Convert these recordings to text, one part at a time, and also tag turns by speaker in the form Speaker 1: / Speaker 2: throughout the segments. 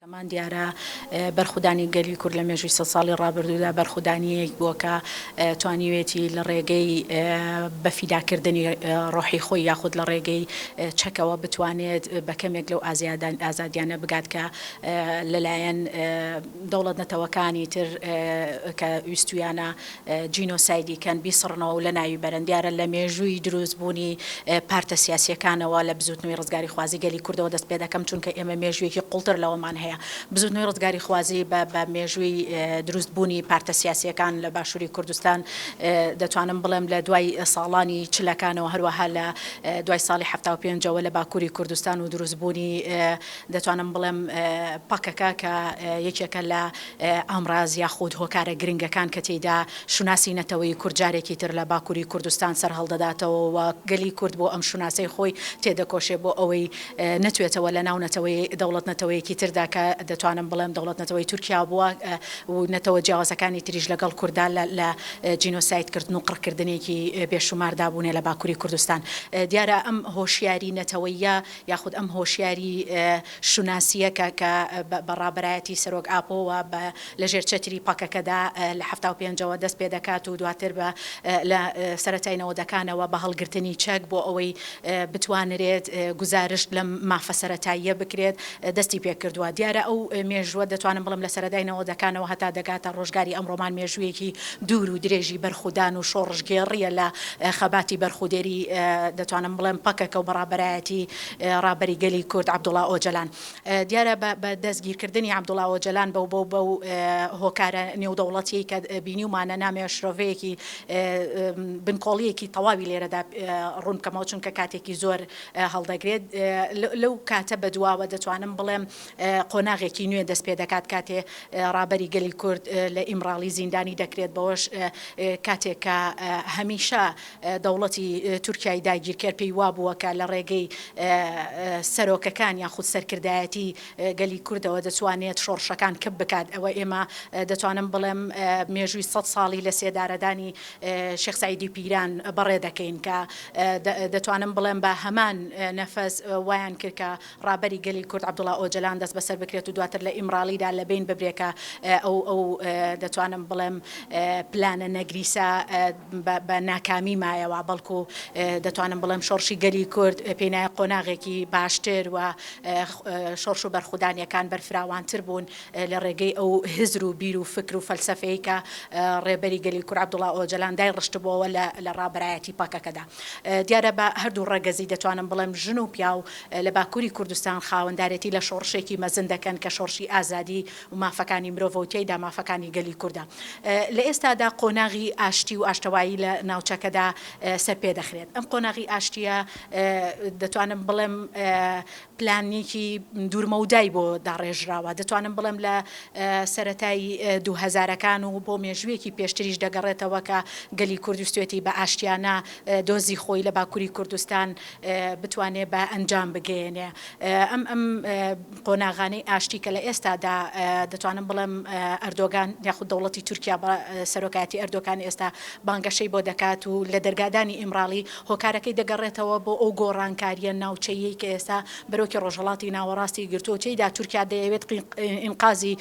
Speaker 1: هەمان دیارە بەرخودانی گەلی کورد لە مێژووی سەد ساڵی ڕابردوودا بەرخودانییەک بووە کە توانیوێتی لە ڕێگەی بە فیداکردنی ڕۆحی خۆی یاخود لە ڕێگەی چەکەوە بتوانێت بە کەمێک لەو ئازادیانە بگات کە لەلایەن دەوڵەت-نەتەوەکانی تر کە ویستوویانە جینۆسایدی کەن بیسڕنەوە و لەناوی بەرن، دیارە لە مێژووی دروست بوونی پارتە سیاسییەکانەوە لە بزووتنەوەی ڕزگاری خوازی گەلی کوردەوە دەست پێ دەکەم چونکە ئێمە مێژوویەکی قوڵتر لەوەمان هەیە بزووتنەوەی ڕزگاری خوازی بە بە مێژووی دروست بوونی پارتە سیاسییەکان لە باشووری کوردستان دەتوانم بڵێم لە دوای ساڵانی چلەکانەوە هەروەها لە دوای ساڵی حەفتا و پێنج ەوە لە باکووری کوردستان و دروست بوونی دەتوانم بڵێم پەکەکە کە یەکێکە لە ئامراز یاخود هۆکارە گرنگەکان کە تێیدا شوناسی نەتەوەی کورد جارێکی تر لە باکوری کوردستان سەرهەڵدەداتەوە و گەلی کورد بۆ ئەم شوناسەی خۆی تێدەکۆشێ بۆ ئەوەی نەتوێتەوە لە ناو نەتەوەی دەوڵەت نەتەوەیەکی تردا کە دەتوانم بڵێم دەوڵەت نەتەوەی تورکیا بووە و نەتەوە جیاوازەکانی تریش لەگەڵ کورددا لە جینۆساید کردن و قڕکردنێکی بێ شوماردا بوونێ لە باکوری کوردستان دیارە ئەم هۆشیاری نەتەوەییە یاخود ئەم هۆشیاری شوناسییەکە کە بە ڕابەرایەتی سەرۆک ئاپۆوە بە لە ژێر چەتری پەکەکەدا لە حەفتا و پێنجەوە دەست پێ دەکات و دواتر بە لە سەرەتای نەوەدەکانەوە بە هەڵگرتنی چەک بۆ ئەوەی بتوانرێت گوزارشت لەم مافە سەرەتاییە بکرێت دەستی پێ کردووە. دیارە ئەو مێژووە دەتوانم بڵێم لە سەرەدای نەوەدەکانەوە هەتا دەگاتە ڕۆژگاری ئەمڕۆمان مێژوویەکی دوور و درێژی بەرخودان و شۆڕشگێڕییە لە خەباتی بەرخودێری دەتوانم بڵێم پەکەکە و بە ڕابەرایەتی ڕابەری گەلی کورد عەبدوڵا ئۆجەلان دیارە بە دەستگیرکردنی عەبدوڵا ئۆجەلان بە و بە و هۆکارە نێودەوڵەتیەی کە بینیومانە نامەوێ شرۆڤەیەکی بنکۆڵیەکی تەواوی لێرەدا ڕوون بکەمەوە چونکە کاتێکی زۆر هەڵدەگرێت لەو کاتە بە دواوە دەتوانم بڵێم قۆناغێکی نوێ دەست پێ دەکات کاتێ ڕابەری گەلی کورد لە ئیمڕاڵی زیندانی دەکرێت بەوەش کاتێک کە هەمیشە دەوڵەتی تورکیای داگیرکەر پێی وابووە کە لە ڕێگەی سەرۆکەکان یاخود سەرکردایەتی گەلی کوردەوە دەتوانێت شۆڕشەکان کپ بکات ئەوە ئێمە دەتوانم بڵێم مێژووی سەد ساڵی لە سێدارەدانی شێخ سەعیدی پیران بەڕێ دەکەین کە دەتوانم بڵێم بە هەمان نەفەس وایان کرد کە ڕابەری گەلی کورد عەبدوڵا ئۆجەلان دەستبەسەر بکرێت و دواتر لە ئیمراڵیدا لە بین ببرێت کە ئەو ئەو دەتوانم بڵێم پلانە نەگریسە بە ناکامی مایەوە بەڵکو دەتوانم بڵێم شۆڕشی گەلی کورد پێی نایە قۆناغێکی باشتر و شۆڕش و بەرخودانیەکان بەرفراوانتر بوون لە ڕێگەی ئەو هزر و بیر و فکر و فەلسەفەی کە ڕێبەری گەلی کورد عەبدوڵا ئۆجەلان دای ڕشتبۆوە لە ڕابەرایەتی پەکەکەدا دیارە بە هەردوو ڕەگەزی دەتوانم بڵێم ژن و پیاو لە باکووری کوردستان خاوەندارێتی لە شۆڕشێکی مەزن دەکەن کە شۆڕشی ئازادی و مافەکانی مرۆڤە و تیایدا مافەکانی گەلی کوردە. لە ئێستادا قۆناغی ئاشتی و ئاشتەوایی لە ناوچەکەدا سەرپێ دەخرێت. ئەم قۆناغی ئاشتییە دەتوانم بڵێم پلانێکی دوورمەودای بۆ داڕێژراوە. دەتوانم بڵێم لە سەرەتای دوو هەزارەکان و بۆ مێژوویەکی پێشتریش دەگەڕێتەوە کە گەلی کورد ویستوێتی بە ئاشتییانە دۆزی خۆی لە باکووری کوردستان بتوانێ بە ئەنجام بگەیەنێ ئەم ئەم قۆناغانەی ئاشتی کە لە ئێستادا دەتوانم بڵێم ئەردۆگان یاخود دەوڵەتی تورکیا بە سەرۆکایەتی ئەردۆکان ئێستا بانگەشەی بۆ دەکات و لە دەرگادانی ئیمراڵی هۆکارەکەی دەگەڕێتەوە بۆ ئەو گۆڕانکاریە ناوچەیەی کە ئێستا بەرۆکی ڕۆژهەڵاتی ناوەڕاستی گرتووە تێیدا تورکیا دەیەوێت ئینقازی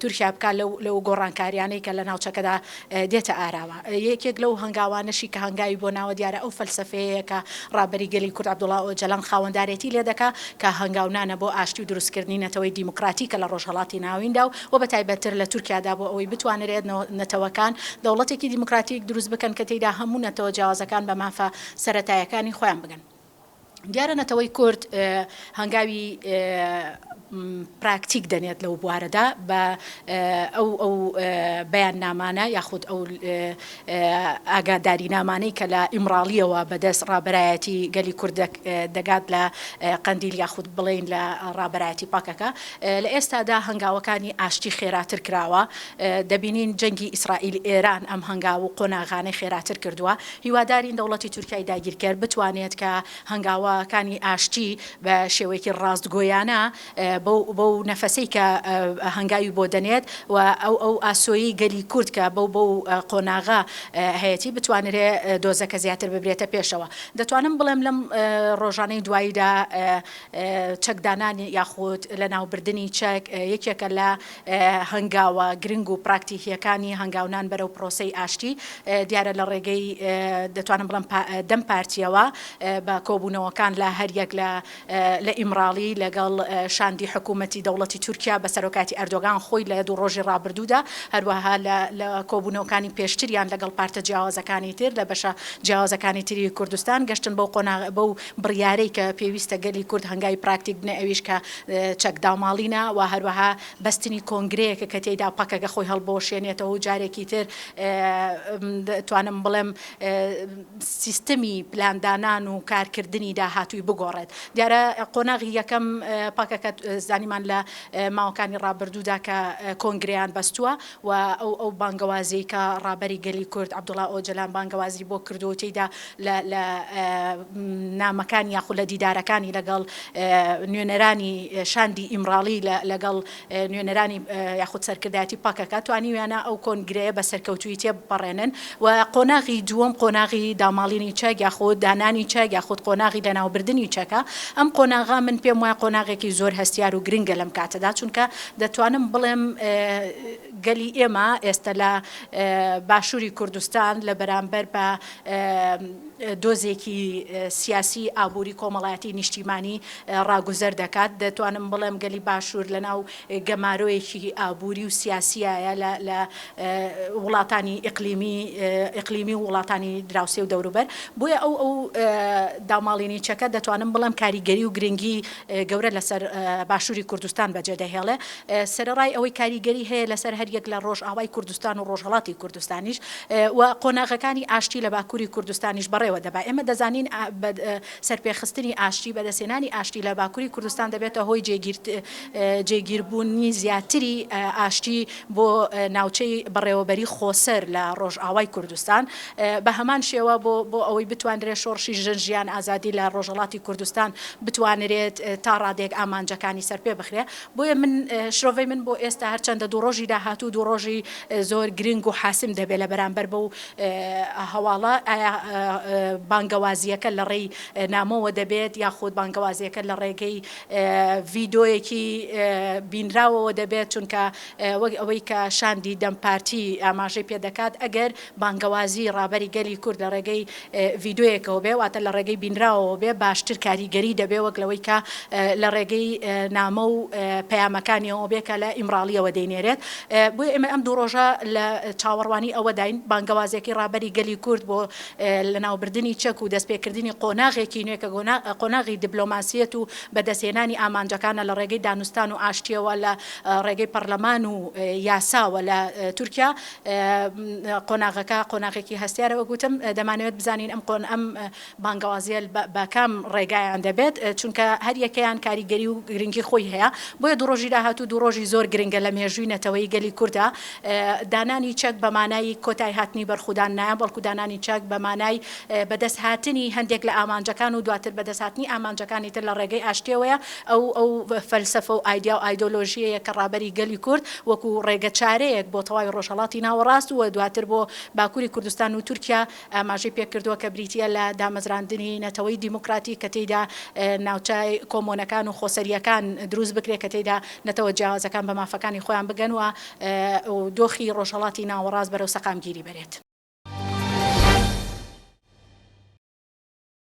Speaker 1: تورکیا بکات لەو لەو گۆڕانکاریانەی کە لە ناوچەکەدا دێتە ئاراوە. یەکێک لەو هەنگاوانەشی کە هەنگاوی بۆ ناوە دیارە ئەو فەلسەفەیەیە کە ڕابەری گەلی کورد عەبدوڵا ئۆجالان خاوەندارێتی لێ دەکا کە هەنگاونانە بۆ ئاشتی و دروستکردنی نەتەوەی دیموکراتیکە لە ڕۆژهەڵاتی ناویندا و وە بەتایبەتتر لە تورکیادا بۆ ئەوەی بتوانرێت نەتەوەکان دەوڵەتێکی دیموکراتیک دروست بکەن کە تێیدا هەموو نەتەوە جیاوازەکان بە مافە سەرەتایەکانی خۆیان بگەن. دیارە نەتەوەی کورد هەنگاوی پراکتیک دەنێت لەو بوارەدا بە ئەو ئەو بەیاننامانە یاخود ئەو ئاگادارینامانەی کە لە ئیمراڵیەوە بەدەست ڕابەرایەتی گەلی کورد دەگات لە قەندیل یاخود بڵین لە ڕابەرایەتی پەکەکە لە ئێستادا هەنگاوەکانی ئاشتی خێراتر کراوە دەبینین جەنگی ئیسرائیل ئێران ئەم هەنگاو و قۆناغانەی خێراتر کردووە هیوادارین دەوڵەتی تورکیای داگیرکەر بتوانێت کە هەنگاوە کانی ئاشتی بە شێوەیەکی ڕاستگۆیانە بەو بەو نەفەسەی کە هەنگاوی بۆ دەنێت و ئەو ئەو ئاسۆیی گەلی کورد کە بەو بەو قۆناغە هەیەتی بتوانرێ دۆزەکە زیاتر ببرێتە پێشەوە دەتوانم بڵێم لەم ڕۆژانەی دواییدا چەکدانانی یاخود لەناوبردنی چەک یەکێکە لە هەنگاوە گرنگ و پراکتیکییەکانی هەنگاونان بەرەو پرۆسەی ئاشتی، دیارە لە ڕێگەی دەتوانم بڵێم دەم پارتییەوە بە کۆبوونەوەکان لە هەر یەک لە لە ئیمراڵی لەگەڵ شاندی حکوومەتی دەوڵەتی تورکیا بە سەرۆکایەتی ئەردۆگان خۆی لە دوو ڕۆژی ڕابردوودا، هەروەها لە لە کۆبوونەوەکانی پێشتریان لەگەڵ پارتە جیاوازەکانی تر لە بەشە جیاوازەکانی تری کوردستان گەشتن بەو قۆناغە بەو بڕیارەی کە پێویستە گەلی کورد هەنگاوی پراکتیک بنێ ئەویش کە چەک داماڵینە و هەروەها بەستنی کۆنگرەیەکە کە تێیدا پەکەکە خۆی هەڵبوەشێنێتەوە و جارێکی تر دەتوانم بڵێم سیستەمی پلاندانان و کارکردنی داهاتووی بگۆڕێت دیارە قۆناغی یەکەم پەکەکە زانیمان لە ماوەکانی ڕابردوودا کە کۆنگرەیان بەستووە و ئەو ئەو بانگەوازیەی کە ڕابەری گەلی کورد عەبدوڵا ئۆجەلان بانگەوازی بۆ کردووە و تێیدا لە لە نامەکانی یاخود لە دیدارەکانی لەگەڵ نوێنەرانی شاندی ئیمراڵی لە لەگەڵ نوێنەرانی یاخود سەرکردایەتی پەکەکە توانیویانە ئەو کۆنگرەیە بە سەرکەوتوویی تێبپەڕێنن و قۆناغی دووەم قۆناغی داماڵینی چەک یاخود دانانی چەک یاخود قۆناغی لەناوبردنی چەکە ئەم قۆناغە من پێم وایە قۆناغێکی زۆر هەستیار و گرنگە لەم کاتەدا چونکە دەتوانم بڵێم گەلی ئێمە ئێستە لە باشووری کوردستان لە بەرامبەر بە دۆزێکی سیاسی ئابووری کۆمەڵایەتی نیشتیمانی ڕاگوزەر دەکات دەتوانم بڵێم گەلی باشوور لەناو گەمارۆیەکی ئابووری و سیاسیایە لە وڵاتانی ئیقلیمی ئیقلیمی و وڵاتانی دراوسێ و دەوروبەر بۆیە ئەو ئەو داماڵینیچەکە دەتوانم بڵێم کاریگەری و گرنگی گەورە لەسەر باشووری کوردستان بەجێ دەهێڵێ، سەرەڕای ئەوەی کاریگەری هەیە لەسەر هەر یەک لە ڕۆژئاوای کوردستان و ڕۆژهەڵاتی کوردستانیش و قۆناغەکانی ئاشتی لە باکووری کوردستانیش بەڕێوە دەبا. ئێمە دەزانین بە سەرپێخستنی ئاشتی، بەدەستهێنانی ئاشتی لە باکووری کوردستان دەبێتە هۆی جێگیربوونی زیاتری ئاشتی، بۆ ناوچەی بەڕێوەبەریی خۆسەر لە ڕۆژئاوای کوردستان، بە هەمان شێوە بۆ بۆ ئەوەی بتوانرێت شۆڕشی ژن، ژیان، ئازادی لە ڕۆژهەڵاتی کوردستان بتوانرێت تا ڕادەیەک ئامانجەکانی سەرپێ بخرێ. بۆیە من شرۆڤەی من بۆ ئێستا هەرچەندە دوو ڕۆژی داهاتوو دوو ڕۆژی زۆر گرنگ و حاسم دەبێ لە بەرامبەر بەو هەواڵە ئایا بانگەوازییەکە لە ڕێی نامۆوە دەبێت یاخود بانگەوازییەکە لە ڕێگەی ڤیدۆیەکی بینراوەوە دەبێت، چونکە وەک ئەوەی کە شاندی دەم پارتی ئاماژەی پێ دەکات، ئەگەر بانگەوازی ڕابەری گەلی کورد لە ڕێگەی ڤیدۆیەکەوە بێ، واتە لە ڕێگەی بینراوەوە بێ باشتر کاریگەری دەبێ وەک لەوەی کە لە ڕێگەی نامە و پەیامەکانیەوە بێ کە لە ئیمراڵیەوە دەینێرێت. بۆیە ئێمە ئەم دوو ڕۆژە لە چاوەڕوانی ئەوەداین بانگەوازێکی ڕابەری گەلی کورد بۆ لەناوبردنی چەک و دەستپێکردنی قۆناغێکی نوێ کە قۆناغی دبلۆماسیەت و بەدەستهێنانی ئامانجەکانە لە ڕێگەی دانوستان و ئاشتیەوە لە ڕێگەی پەڕلەمان و یاساوە لە تورکیا قۆناغەکە قۆناغێکی هەستیارە وەک وتم دەمانەوێت بزانین ئەم قۆن ئەم بانگەوازیە بە کام ڕێگایان دەبێت چونکە هەریەکەیان کاریگەری و گرنگی خۆی هەیە بۆیە دوو ڕۆژی داهاتوو دوو ڕۆژی زۆر گرنگە لە مێژووی نەتەوەی گەلی کوردا. دانانی چەک بە مانای کۆتای هاتنی بەرخودان نایە، بەڵکو دانانی چەک بە مانای بەدەست هاتنی هەندێک لە ئامانجەکان و دواتر بەدەست هاتنی ئامانجەکانی تر لە ڕێگەی ئاشتیەوەیە، ئەو ئەو فەلسەفە و ئایدیا و ئایدۆلۆژیەیە کە ڕابەری گەلی کورد وەکو ڕێگە چارەیەک بۆ تەواوی ڕۆژهەڵاتی ناوەڕاست و دواتر بۆ باکوری کوردستان و تورکیا ئاماژەی پێ کردوە کە بریتیە لە دامەزراندنی نەتەوەی دیموکراتیک کە تێیدا ناوچە کۆمۆنەکان و خۆسەریەکان دروست بکرێت کە تێیدا نەتەوە جیاوازەکان بە مافەکانی خۆیان بگەن و و دۆخی ڕۆژهەڵاتی ناوەڕاست بەرەو سەقامگیری بەرێت.